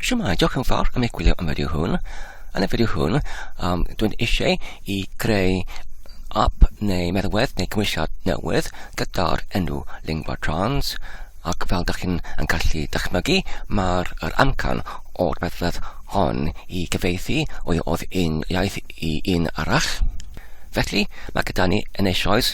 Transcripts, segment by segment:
Siwmai, diolch yn fawr am eich gwylio am fideo hwn. Yn y fideo hwn, um, dwi'n eisiau i greu app neu meddwedd neu gymwysiad newydd gyda'r enw Lingua Trans ac fel ydych chi'n yn gallu dychmygu, mae'r er amcan o'r meddwedd hon i gyfeithi o'i oedd un iaith i un arall. Felly, mae gyda ni yn eisoes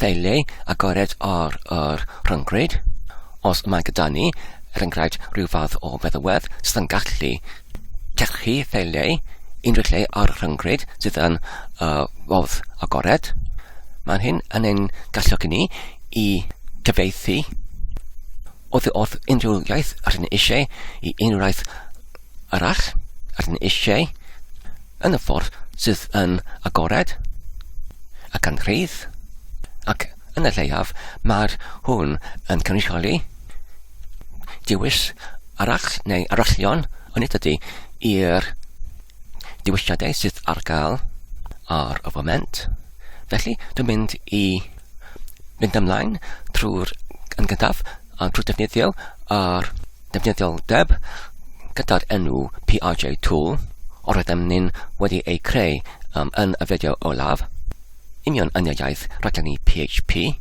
Felly, agored ar yr rhyngrwyd. Os mae gyda ni, er enghraifft, rhyw fath o feddywedd sydd yn gallu llechu felly unrhyw lle ar y rhyngrwyd sydd yn uh, fodd agored, mae hyn yn ein galluogi ni i gyfeithi oddi wrth unrhyw iaith rydyn ni eisiau i unrhyw iaith arall rydyn ni eisiau yn y ffordd sydd yn agored ac yn rhydd, ac yn y lleiaf mae'r hwn yn cynrychioli diwys arall neu arallion yn nid ydy i'r diwysiadau sydd ar gael ar y foment. Felly, dwi'n mynd i mynd ymlaen trwy'r yn gyntaf a trwy defnyddio ar defnyddioldeb gyda'r enw PRJ Tool o'r rydym ni'n wedi eu creu um, yn y fideo olaf, union yn y iaith rhaglenni PHP.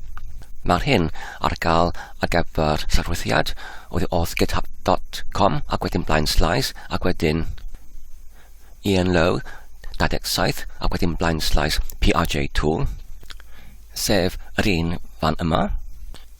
Mae'r hyn ar gael ar gyfer llyfrwythiad oedd off github.com ac wedyn blaen slais ac wedyn Ian Lowe 27 ac wedyn blaen slais PRJ Tool sef yr un fan yma.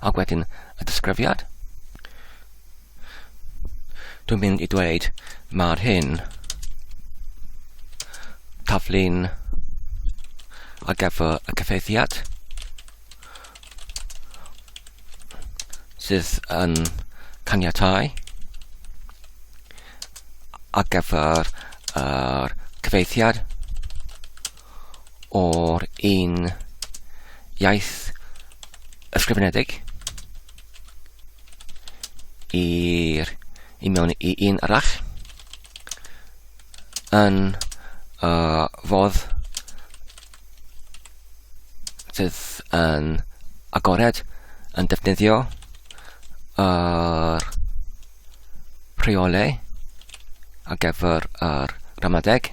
Ac wedyn y disgrifiad. Dwi'n mynd i dweud mae'r hyn taflu'n ar gyfer y cyfeithiad sydd yn caniatau ar gyfer yr cyfeithiad o'r un iaith ysgrifenedig i'r i mewn i un arall yn uh, fodd sydd yn agored yn defnyddio yr rheolau ar gyfer yr ramadeg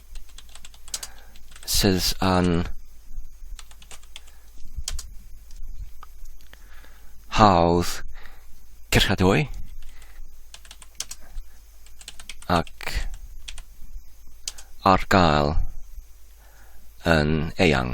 sydd yn hawdd cyrchadwy ac ar gael yn eang.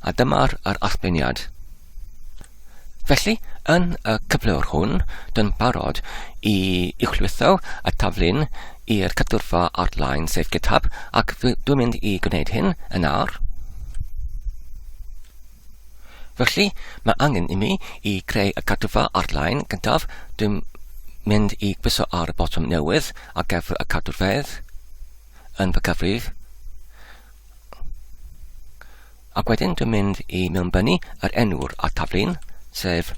A dyma'r yr allbeniad. Felly, yn y cyflwr hwn, dyn barod i uwchlwytho y taflun i'r cadwrfa ar-lein sef GitHub, ac dwi'n mynd i gwneud hyn yn awr. Felly, mae angen i mi i creu y cadwrfa ar-lein gyntaf. Dwi'n mynd i gwyso ar y botwm newydd a gefr y cadwrfedd yn fy cyfrif. Ac wedyn dwi'n mynd i mewnbynnu yr enw'r a taflun, sef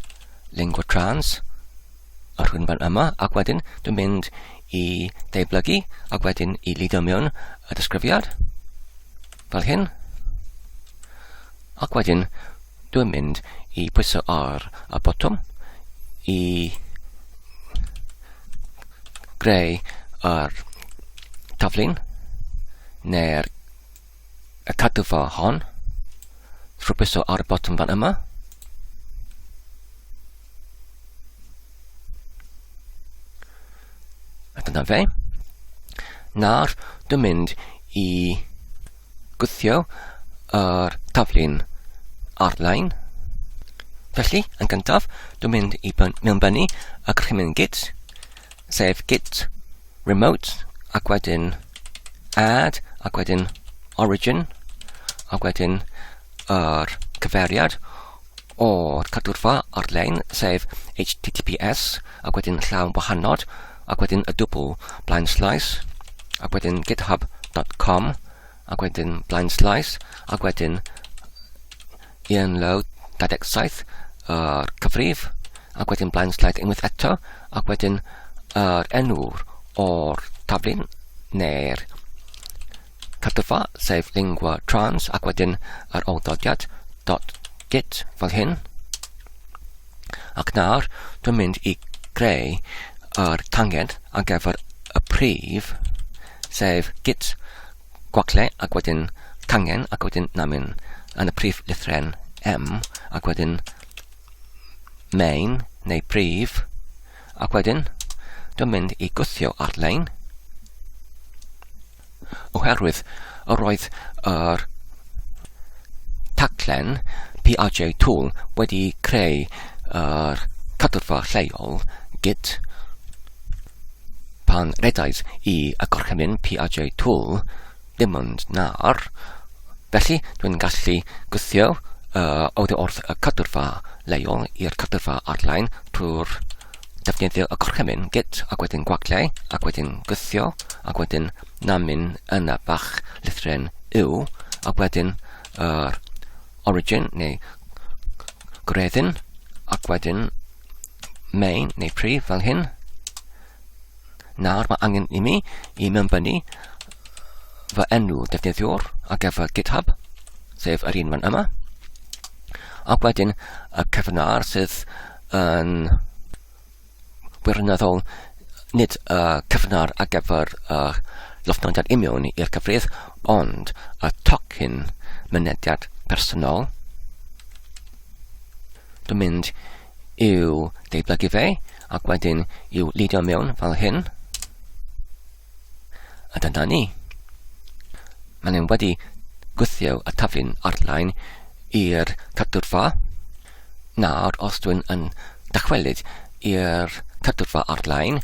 Lingua Trans, y rhwynfan yma, ac wedyn dwi'n mynd i deiblygu ac wedyn i lidio mewn y disgrifiad, fel hyn. Ac wedyn Dwi'n mynd i pwyso ar y botwm i greu yr taflun neu'r y cadwfa hon trwy pwyso ar y botwm fan yma. A dyna fe. Nawr, dwi'n mynd i gwthio yr taflu'n arlein. Felly, yn gyntaf, dwi'n mynd i mewnbynnu y gorchymyn git, sef git remote, ac wedyn add, ac wedyn origin, ac wedyn yr cyfeiriad o'r cadwrfa ar-lein, sef https, ac wedyn llaw wahanod, ac wedyn y dwbl blaen slaes, ac wedyn github.com, ac wedyn blaen slaes, ac wedyn Ian Lowe 27, yr cyfrif, ac wedyn blaen slaes unwaith eto, ac wedyn yr enw'r o'r taflun neu'r Cytgwa, sef lingua trans, ac wedyn yr awdodiad dot git fel hyn. Ac nawr, dwi'n mynd i greu yr tanged ar gyfer y prif, sef git gwacle ac wedyn cangen ac wedyn na mynd yn y prif lythren M ac wedyn main neu prif ac wedyn dwi'n mynd i gwthio ar-lein oherwydd yr oedd yr taglen PRJ Tool wedi creu yr cadwrfa lleol gyd pan redais i y gorchymyn PRJ Tool dim ond nawr felly dwi'n gallu gwthio uh, oddi wrth y cadwrfa leol i'r cadwrfa arlein trwy'r defnyddio y gorchymyn git ac wedyn gwagliau ac wedyn gythio ac wedyn namin yna bach llithren yw ac wedyn yr uh, origin neu gwreddyn ac wedyn main neu prif fel hyn Nawr mae angen i mi i mewnbynnu fy enw defnyddiwr ar gyfer GitHub, sef yr un fan yma. Ac wedyn y cyfnod sydd yn wirioneddol nid y cyfnod ar gyfer y llofnodiad imiwn i'r cyfrif, ond y tocyn mynediad personol. Dwi'n mynd i'w deiblygu fe, ac wedyn i'w lidio mewn fel hyn. A dyna ni. Mae'n ein wedi gwythio y taflu'n arlein i'r cadwrfa. Nawr, os dwi'n yn dychwelyd i'r cadwrfa arlein,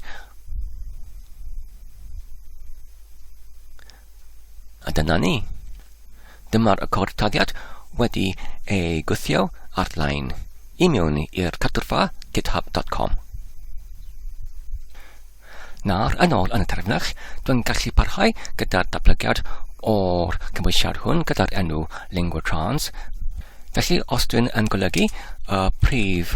a dyna ni. Dyma'r y cod taggiad wedi ei gwthio ar-lein i mewn i'r cadwrfa github.com. Nawr, yn ôl yn y terfynach, dwi'n gallu parhau gyda'r datblygiad o'r cymwysiad hwn gyda'r enw Lingua Trans. Felly, os dwi'n yn golygu y uh, prif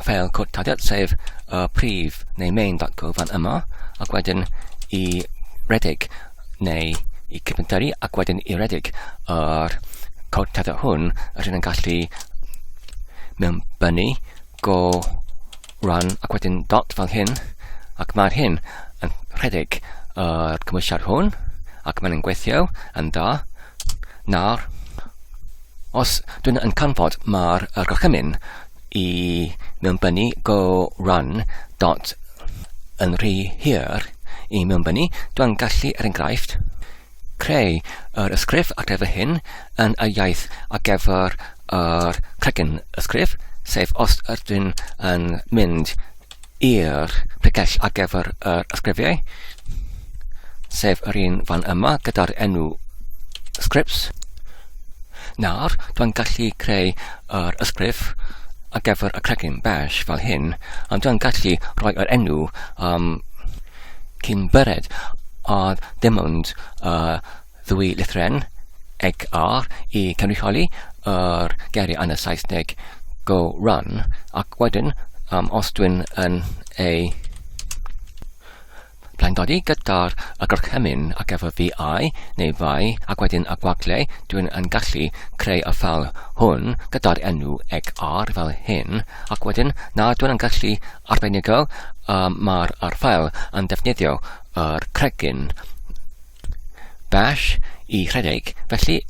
ffeil cod tadiad, sef y uh, prif neu main.go fan yma, ac wedyn i redeg neu i cyfntaru ac wedyn i redeg yr cod tether hwn, rydyn yn gallu mewn bynu, go run ac wedyn dot fel hyn, ac mae'r hyn yn rhedeg yr cymwysiad hwn, ac mae'n gweithio yn dda. Nawr, os dwi'n yn canfod mae'r gorchymyn i mewnbynnu go run dot yn rhy hir i mewnbynnu, dwi'n gallu, er enghraifft, creu yr ysgrif ar gyfer hyn yn y iaith ar gyfer yr cregyn ysgrif, sef os ydyn yn mynd i'r pregell ar gyfer yr ysgrifiau, sef yr un fan yma gyda'r enw scripts. Nawr, dwi'n gallu creu yr ysgrif ar gyfer y cregyn bash fel hyn, a dwi'n gallu rhoi yr enw um, cyn byred, a dim ond uh, Ddwy lythren, eg ar, i cynrychioli yr geiriau yn y Saesneg go run, ac wedyn um, os dwi'n yn ei blaendodi gyda'r y gorchymyn ac efo fi ai neu fai ac wedyn y gwagle, dwi'n yn gallu creu y ffel hwn gyda'r enw eg ar fel hyn, ac wedyn na dwi'n yn gallu arbenigo um, mae'r ffel yn defnyddio yr cregyn bash i rhedeg. Felly,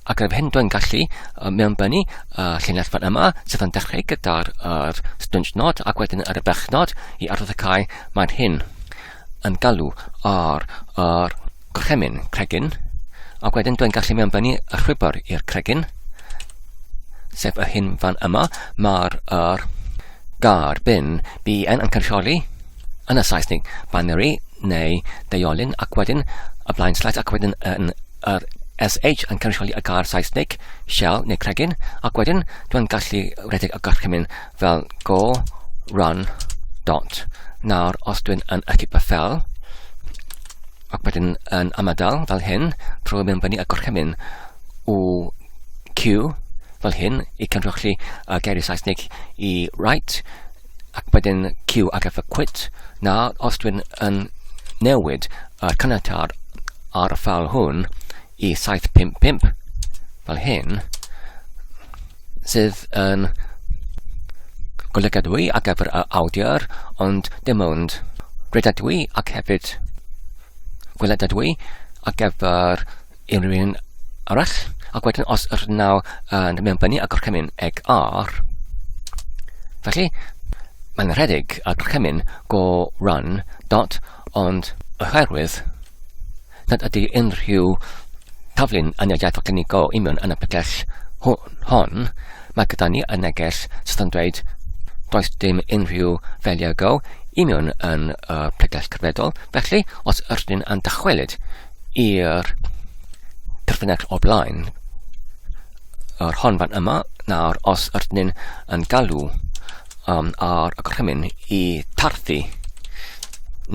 ac yr hyn dwi'n gallu uh, mewnbynnu uh, llinell fan yma, sef yn dechrau gyda'r uh, stwnsh nod ac wedyn ar y bechnod i arddod y cae, mae'r hyn yn galw ar yr gorchemyn cregyn, ac wedyn dwi'n gallu mewnbynnu y rhwybr i'r cregyn, sef yr hyn fan yma, mae'r uh, gar bin BN yn cynsioli yn y Saesnig, binary neu deiolyn ac wedyn y blaen slash ac wedyn yn yr SH yn cynrychioli y gair Saesnig, shell neu cregyn, ac wedyn dwi'n gallu rhedeg y gorchymyn fel go, run, dot. Nawr, os dwi'n yn y fel, ac wedyn yn ymadael fel hyn, trwy mynd fyny y gorchymyn o Q fel hyn i cynrychioli y geiriau Saesnig i right, ac wedyn Q ar gyfer quit. Na, os dwi'n yn newid y caniatâd ar y ffal hwn i 755 fel hyn, sydd yn golygadwy ar gyfer y awdur, ond dim ond redadwy ac hefyd gweledadwy ar gyfer unrhyw un arall. Ac wedyn os yr naw yn uh, mewn bynnu a gorchymyn eg ar, felly mae'n rhedeg a gorchymyn go run dot ond oherwydd nad ydy unrhyw taflun yn y iaith go i mewn yn y pegell hon, mae gyda ni y neges sydd yn dweud does dim unrhyw feliau go i mewn yn y pegell cyfredol, felly os ydyn yn dychwelyd i'r perthynas o blaen yr hon fan yma. Nawr, os ydyn ni'n yn galw um, ar y gorchymyn i tarthu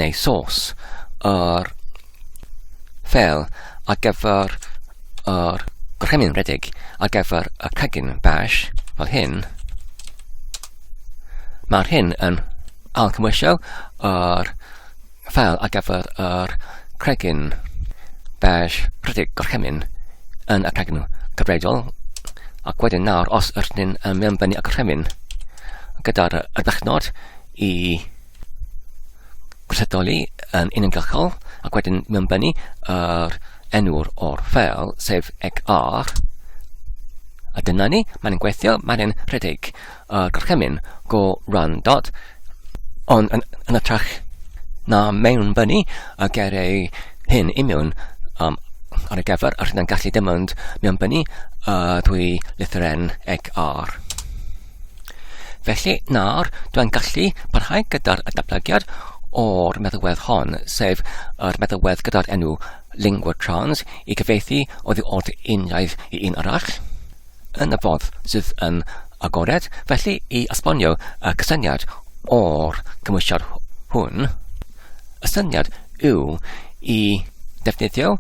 neu sos yr fel ar gyfer yr gorchymyn redig ar gyfer y cegin bash fel hyn, mae'r hyn yn alcymwysio yr Fel a gafodd yr cregyn beige rhedeg gorchymyn yn y cregyn cyfredol, ac wedyn nawr os yr ni'n mewnbynnu y gorchymyn gyda'r ardechnod i gwrthydoli yn uniongyrchol, ac wedyn mewnbynnu yr enw'r o'r ffeil, sef egr, a dyna ni, mae'n gweithio, mae'n rhedeg. a gorchymyn go randod, ond yn, yn ytrach na mewnbynnu a ger ei hyn i mewn um, ar y gefr, a rydyn gallu dim ond mewnbynnu a dwy lythyren ec ar. Felly, nawr, dwi'n gallu parhau gyda'r datblygiad o'r meddywedd hon, sef yr meddywedd gyda'r enw Lingua Trans i gyfeithi oddi wrth un iaith i un arall. yn y ffordd sydd yn agored, felly i esbonio y cysyniad o'r cymwysiad hwn, y syniad yw i defnyddio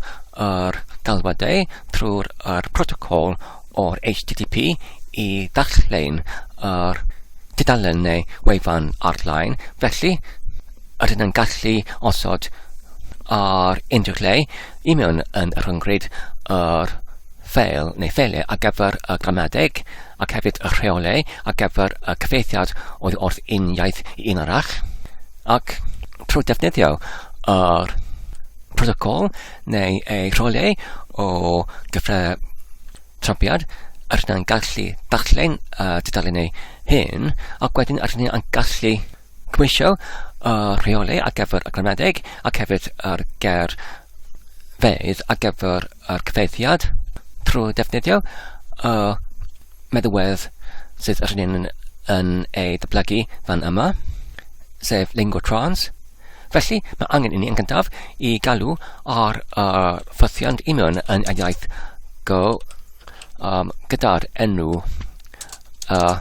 yr galwadau trwy'r er protocol o'r HTTP i ddallein yr tudalen neu wefan ar-lein, felly rydyn yn gallu osod ar unrhyw lle i mewn yn rhyngryd yr ffeil neu ffeiliau ar gyfer y gramadeg, ac hefyd y rheolau ar gyfer y cyfeithiad oddi wrth un iaith i un arall, ac trwy defnyddio yr protocol neu ei rheolau o gyfrau trampiad, yr hynny'n gallu darllen y dudalen ei hun, ac wedyn yr hynny'n gallu cymwysio y rheolau ar gyfer y gramadeg ac hefyd yr ger fedd ar gyfer a'r cyfeithiad trwy ddefnyddio y meddwedd sydd yr hyn yn ei ddyblygu fan yma, sef Lingo Trans. Felly, mae angen i ni yn gyntaf i galw ar y ffythiant i mewn yn y iaith Go um, gyda'r enw y uh,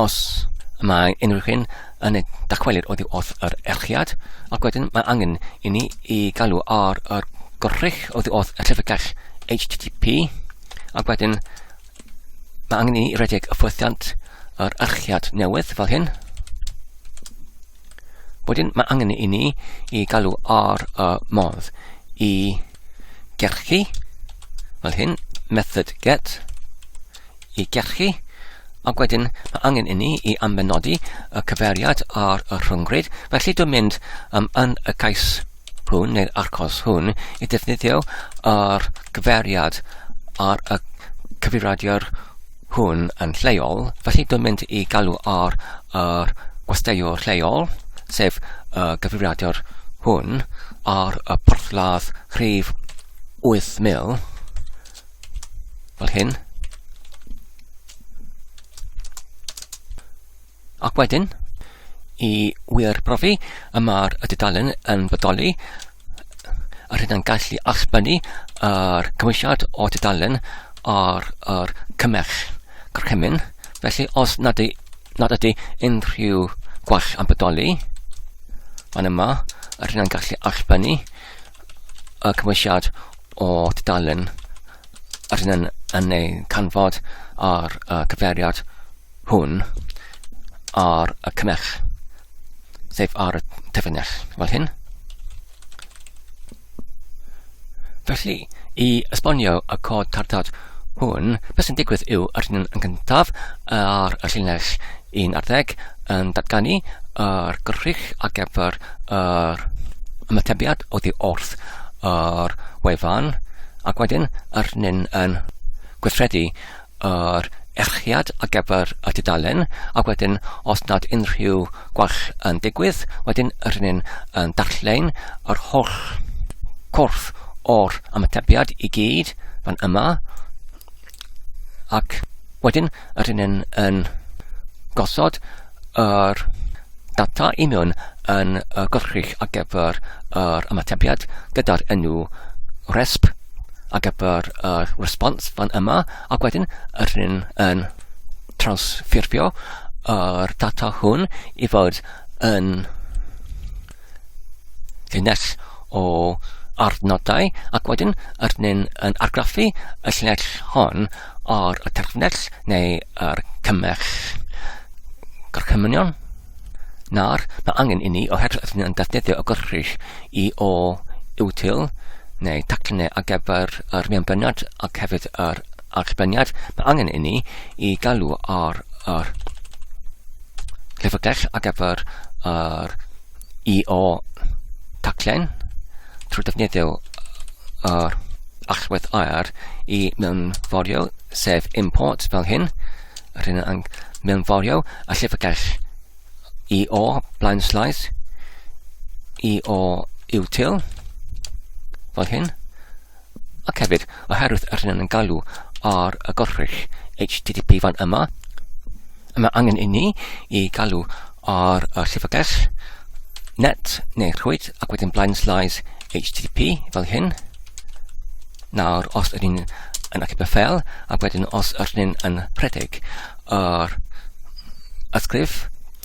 Os y mae unrhyw hyn yn ei dacwelir oddi wrth yr erchiad, ac wedyn mae angen i ni i galw ar y gorrych oddi wrth y llyfrgell HTTP, ac wedyn mae angen i ni redeg y ffwythiant yr erchiad newydd fel hyn. Wedyn mae angen i ni i galw ar y modd i gerchu fel hyn, method get, i gerchu, ac wedyn mae angen inni i ambenodi y cyfeiriad ar y rhyngrwyd, felly dwi'n mynd um, yn y cais hwn neu'r arcos hwn i ddefnyddio yr cyfeiriad ar y cyfeiriadur hwn yn lleol, felly dwi'n mynd i galw ar yr gwesteiwr lleol, sef y gyfeiriadur hwn, ar y porthladd rhif 8000, Fel hyn. Ac wedyn, i wir brofi y mae'r y dudalen yn bodoli, a rydyn gallu allbynnu yr cymwysiad o dudalen ar yr cymell gorchymyn. Felly, os nad, y, nad ydy unrhyw gwell yn bodoli, fan yma, rydyn gallu allbynnu y cymwysiad o dudalen yr hyn yn, yn ei canfod ar y cyfeiriad hwn ar y cymell, sef ar y tyfynell, fel hyn. Felly, i esbonio y cod cartad hwn, beth sy'n digwydd yw yr hyn yn gyntaf ar y llinell un ar ddeg yn datganu yr gwrych ar gyfer yr ymatebiad oddi wrth yr wefan ac wedyn yr hynny'n yn gweithredu yr erchiad ar gyfer y dudalen ac wedyn os nad unrhyw gwell yn digwydd wedyn yr hynny'n yn darllen yr holl cwrth o'r ymatebiad i gyd fan yma Ac wedyn, rydyn yn, yn gosod yr data i mewn yn y gylchrych ar gyfer yr ymatebiad gyda'r enw resp ar gyfer y response fan yma, ac wedyn rydyn yn transffurfio yr data hwn i fod yn llinell o arnodau ac wedyn yr ni'n yn argraffu y llinell hon ar y terfynell neu yr cymell gorchymynion na'r mae angen i ni oherwydd ydyn ni'n defnyddio y gorchus i o iwtil neu taclinau ar gyfer yr mianbyniad ac hefyd yr archwiliad, mae angen inni i galw ar yr llyfrgell ar gyfer yr EO taclen trwy defnyddio yr allwedd aer i mewnforio, sef import fel hyn, yr hyn yn mewnforio a llyfrgell EO blaen slaes, EO util, fel hyn. ac hefyd oherwydd yr hyn yn galw ar y gorchryll HTTP fan yma. Y mae angen i ni i galw ar y llyfrgell net neu rhwyd ac wedyn blind slice HTTP fel hyn. Nawr, os ydyn ni'n yn achub y ffel, ac wedyn os ydyn ni'n yn rhedeg yr ysgrif,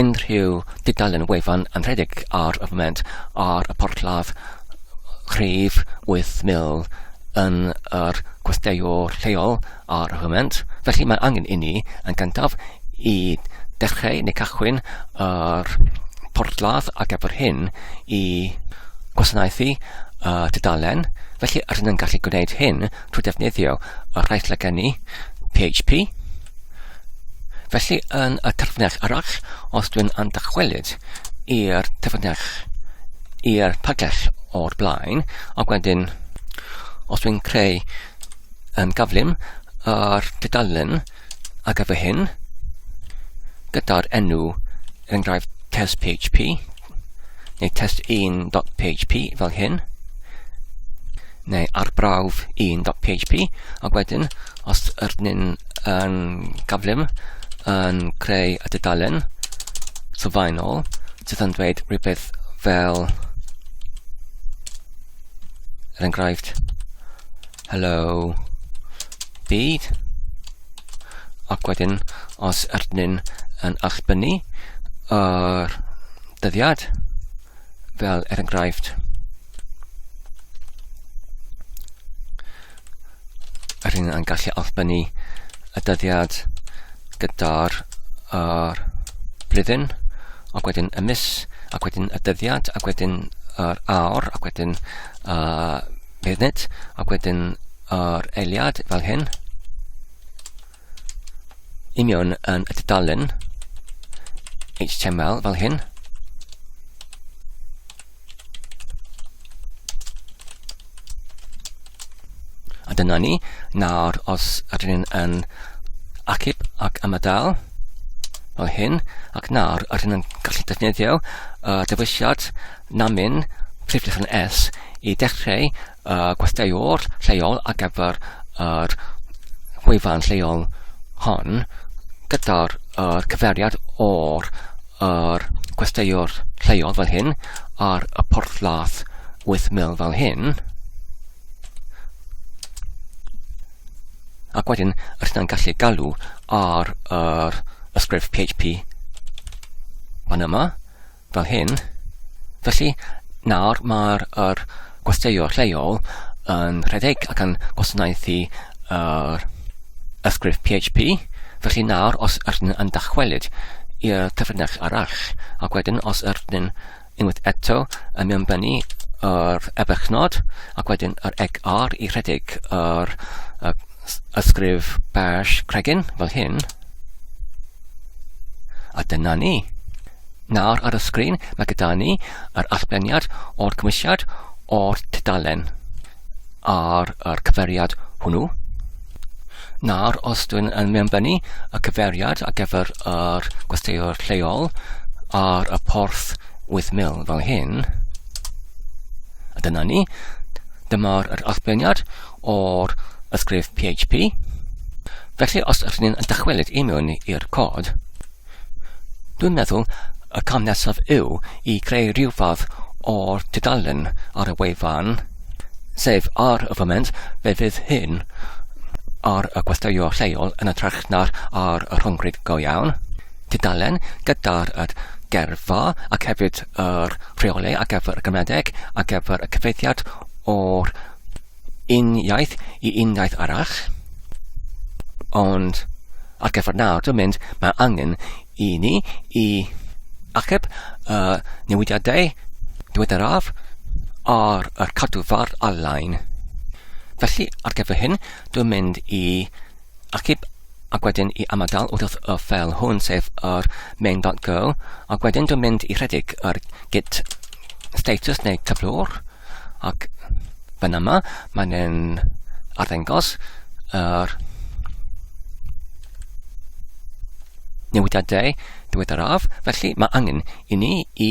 Unrhyw dudalen wefan anrhydedig ar y foment ar y porthladd rhif 8000 yn yr gwesteiwr lleol ar y foment, felly mae angen i ni yn gyntaf i dechreu neu cychwyn yr porthladd ar gyfer hyn i gwasanaethu y tudalen, felly rydyn yn gallu gwneud hyn trwy defnyddio y rhai sydd gen i, PHP. Felly yn y terfynach arall, os dwi'n am dychwelyd i'r terfynach i'r pagell o'r blaen, ac wedyn os dwi'n creu um, gaflun ar dudalen ar gyfer hyn, gyda'r enw, yn enghraifft, test PHP, neu test1.php fel hyn, neu arbrawf 1.php, ac wedyn, os yr nyn yn gaflym yn creu y dudalen sylfaenol, sydd yn dweud rhywbeth fel, er enghraifft, Helo, byd. Ac wedyn, os ydyn yn allbynnu yr dyddiad, fel er enghraifft, yr hyn yn gallu allbynnu y dyddiad gyda'r uh, blwyddyn, ac wedyn y mis, ac wedyn y dyddiad, ac wedyn yr awr, ac wedyn uh, Nid, ac wedyn yr eiliad fel hyn. I mewn yn y dudalen HTML fel hyn. A dyna ni. Nawr, os ydyn ni'n yn acib ac ymadael, fel hyn, ac nawr ydyn ni'n gallu defnyddio uh, dewisiad Namin, prif lechen S, i dechreu y gwesteiwr lleol ar gyfer yr gwefan lleol hon gyda'r er cyferiad o'r er gwesteiwr lleol fel hyn ar y porthladd 8000 fel hyn ac wedyn rydyn ni'n gallu galw ar yr ysgrif PHP fan yma fel hyn. Felly, nawr mae'r er gwesteiwr lleol yn rhedeg ac yn gwasanaethu yr ysgrif PHP. Felly nawr, os ydyn yn dychwelyd i'r cyfrinach arall, ac wedyn os ydyn unwaith eto yn mewnbynnu yr ebychnod, ac wedyn yr egg R i rhedeg yr er, ysgrif bash cregyn fel hyn. A dyna ni. Nawr ar y sgrin mae gyda ni yr allbeniad o'r cymwysiad o'r tudalen ar yr cyferiad hwnnw. Nawr, os dwi'n yn mewnbynnu y cyferiad ar gyfer yr gwesteiwr lleol ar y porth 8000 fel hyn, a dyna ni, dyma'r yr allbeniad o'r ysgrif PHP. Felly, os ydyn ni'n dychwelyd i mewn i'r cod, Dwi'n meddwl y cam nesaf yw i creu rhyw fath o'r tudalen ar y wefan, sef ar y foment fe fydd hyn ar y gwesteion lleol yn y trach na'r ar y rhyngryd go iawn. Tudalen gyda'r yr gerfa ac hefyd yr rheolau ar gyfer y gymedeg ar gyfer y cyfeithiad o'r un iaith i un iaith arall, ond ar gyfer nawr, dwi'n mynd, mae angen i ni i achub y newidiadau diweddaraf ar y cadw fardd ar-lein. Felly, ar gyfer hyn, dwi'n mynd i achub ac wedyn i ymadael wrth y ffeil hwn, sef yr main.go, ac wedyn dwi'n mynd i rhedeg yr git status neu cyflwr, ac fan yma mae'n yn arddengos yr newidiadau diweddaraf, felly mae angen i ni i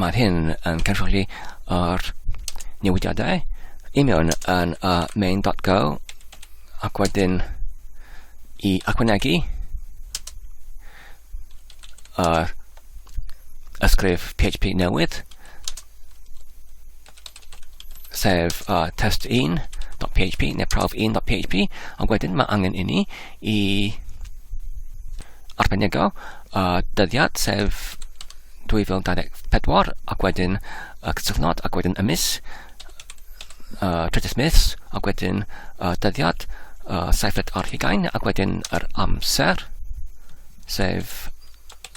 Mae'r hyn yn cynrychioli yr newidiadau i mewn yn y main.go ac wedyn i ychwanegu yr ysgrif PHP newydd sef uh, test1.php neu prawf1.php ond wedyn mae angen i ni i arbenigo uh, dyddiad sef 2024 ac wedyn uh, cysylltnod ac wedyn y mis uh, trydydd mis ac wedyn uh, dyddiad uh, seifred ar hugain ac wedyn yr amser sef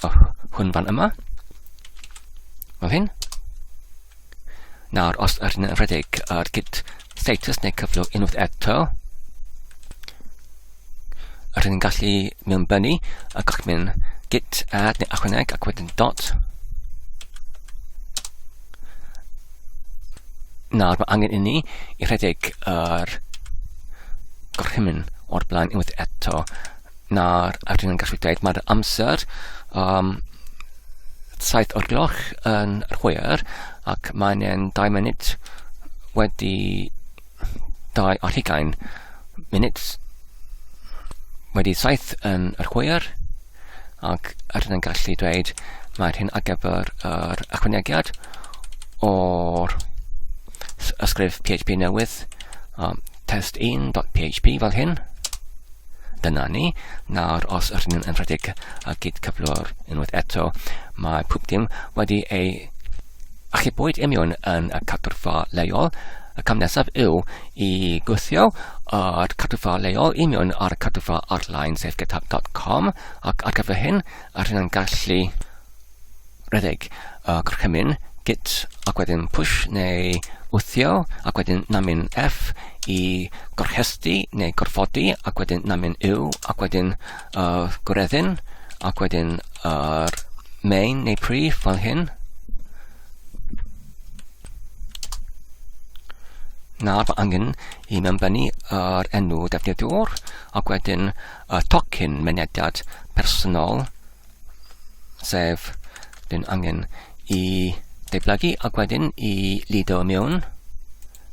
uh, hwn fan yma fel hyn Nawr, os ydyn yn rhedeg yr git status neu cyflwr unwaith eto, rydyn ni'n gallu mewn bynu a gallwch mynd git add neu achwaneg ac wedyn dot. Nawr, mae angen inni i rhedeg yr gorchymyn o'r blaen unwaith eto. na'r adran yn gallu gwneud. Mae'r amser um, 7 o'r gloch yn yr hwyr ac mae'n yn 2 munud wedi 2 ar hugain munud wedi 7 yn yr hwyr ac adran yn gallu dweud mae'r hyn ar gyfer yr ychwanegiad o'r ysgrif PHP newydd um, test1.php fel hyn Dyna ni. Nawr, os ydyn nhw'n enwedig a gyd cyflwr unwaith eto, mae pwp dim wedi ei achubwyd imiwn yn y cadwrfa leol. Y cam nesaf yw i gwthio o'r cadwrfa leol imiwn ar y cadwrfa arlein sef github.com ac ar gyfer hyn, yr hyn yn gallu rhedeg y gorchymyn git ac wedyn push neu wthio ac wedyn namyn F i gorchesty neu gorfodi ac wedyn namyn U ac wedyn uh, gwreddyn ac wedyn yr uh, main neu prif fel hyn. Nawr mae angen i mewnbynnu yr enw defnyddiwr ac wedyn y tocyn mynediad personol sef dyn angen i deiblygu ac wedyn i lido mewn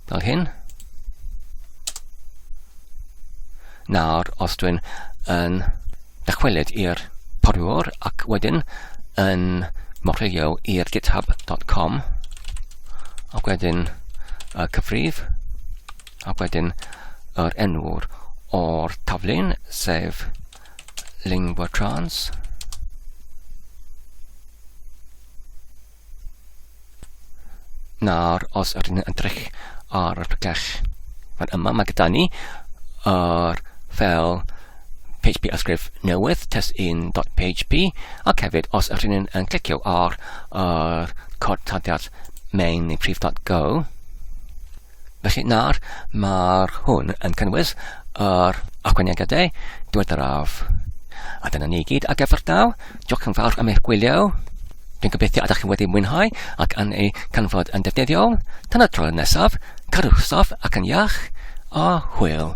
fel hyn. Nawr, os dwi'n yn dychwelyd i'r poriwr ac wedyn yn morio i'r github.com ac wedyn y cyfrif ac wedyn yr enw'r o'r taflun, sef lingua trans. Nawr, os ydyn ni'n edrych ar y pellach fan yma, mae gyda ni yr fel PHP ysgrif newydd, test1.php, ac hefyd os ydyn ni'n yn clicio ar yr cod tadiad main neu prif.go, Felly nawr mae'r hwn yn cynnwys yr ychwanegiadau diweddaraf. A dyna ni gyd ar gyfer daw. Diolch yn fawr am eich gwylio. Dwi'n gobeithio ydych chi wedi mwynhau ac yn ei canfod yn defnyddiol. Tan y tro nesaf, carwch soff ac yn iach, a hwyl.